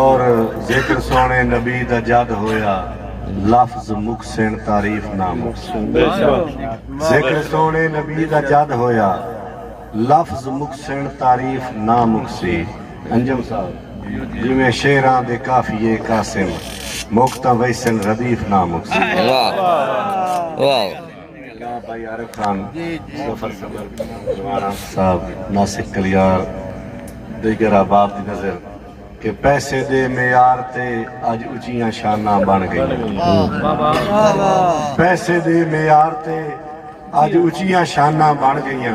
اور ذکر سوہݨے نبی دا جد ہویا لفظ مکسن تعریف نہ مکسن ذکر سوہݨے نبی دا جد ہویا لفظ مکسن تعریف نہ مکسی انجم صاحب جیویں شعراں دے قافیے قاسم مک تاں ویسن ردیف نہ مکسی۔ جناب بھائی عارف خان سفر صبر جوانا صاحب ناسک کلیار دیگر احباب دی نظر کہ پیسے دے معیار تے اج اچیاں شاناں بن گئیاں پیسے دے معیار تے اج اچیاں شاناں بن گئیاں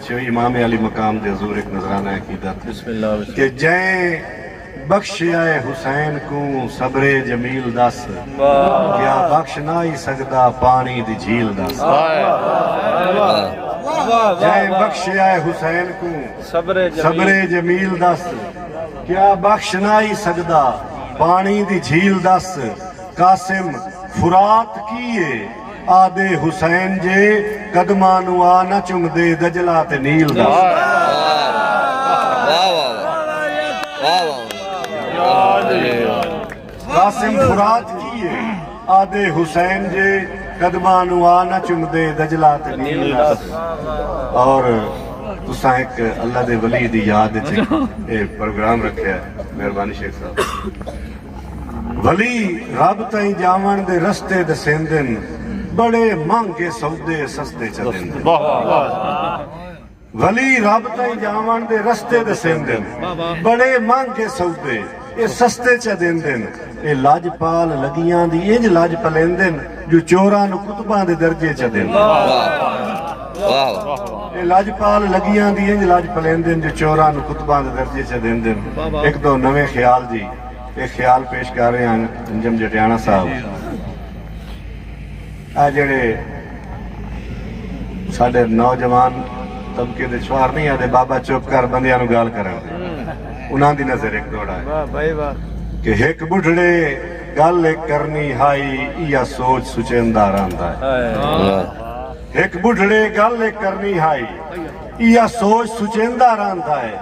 سویں امام عالی مقام دے حضور ہک نذرانہ عقیدت کہ جئیں بخشیائے حسین کوں صبر جمیل دس کیا بخش نہ ای سگدا پانی دی جھیل دس جئیں بخشیائے حسین کوں صبر جمیل دس کیا بخش نہ ای سگدا پانی دی جھیل دس قاسم فرات کی اے آہدے حسین جے قدماں نوں آ نہ چمدے دجلہ تے نیل دا۔ واہ واہ واہ واہ واہ قاسم فرات کی ہے آہدے حسین جے قدماں نوں آ نہ چمدے دجلہ تے نیل دا اور تساں ہک اللہ دے ولی دی یاد وچ اے پروگرام رکھیا ہے مہربانی شیخ صاحب۔ ولی رب تئیں جاوݨ دے رستے ݙسیندن بڑے مہنگے سودے سستے چا ݙیندن ولی رب تئیں جاوݨ دے رستے ݙسیندن بڑے مہنگے سودے اے سستے چا ݙیندن اے لاجپال لڳیاں دی انج لاج پلیندن جو چوراں نو کتباں دے درجے چا ݙیندن۔ اے خیال پیش کر رہے ہن انجم جٹیانڑا صاحب اے جیڑے ساڈے نوجوان طبقے دے چھوار نہیں آدھے بابا چپ کر بندیاں نو گال کرن دے انہاں دی نظر ایک دوڑا ہے کہ ہک بڈھڑے گل ایک کرنی ہائی ایا سوچ سچیندا رہندا ہے ہک بڈھڑے گل ایک کرنی ہائی ایا سوچ سچیندا رہندا ہے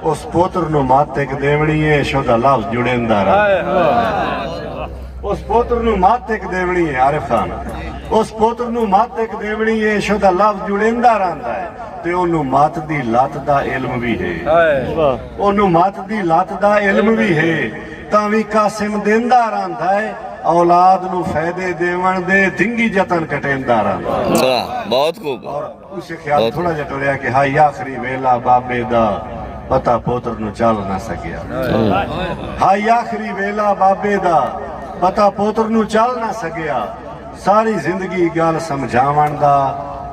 اس پوتر نو مت ایک دیونی ہے عشق دا لفظ جڑیندا رہ اس پوتر نو مت ایک دیونی ہے عارف خان اس پوتر نو مت ایک دیونی ہے عشق دا لفظ جڑیندا رہندا ہے تے اونوں مات دی لات دا علم بھی ہے اونوں مات دی لات دا علم بھی ہے تاں وی قاسم دیندا رہندا ہے اولاد نو فائدے دیون دے دنگی جتن کٹیندا رہندا ہے بہت خوب اوسے خیال تھوڑا جا ٹریا کہ ہائی آخری ویلا بابے دا پتا پوتر نو چل نہ سکیا ہائی آخری ویلا بابے دا پتا پوتر نو چل نہ سکیا ساری زندگی گال سمجھاون دا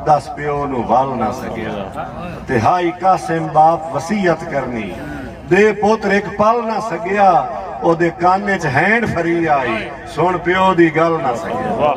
دس پیو نو ول نہ سکیا تے ہائی قاسم باپ وسیعت کرنی دے پوتر ایک پل نہ سکیا او دے کان اچ ہینڈ فری آئی سن پیو دی گل نہ سکیا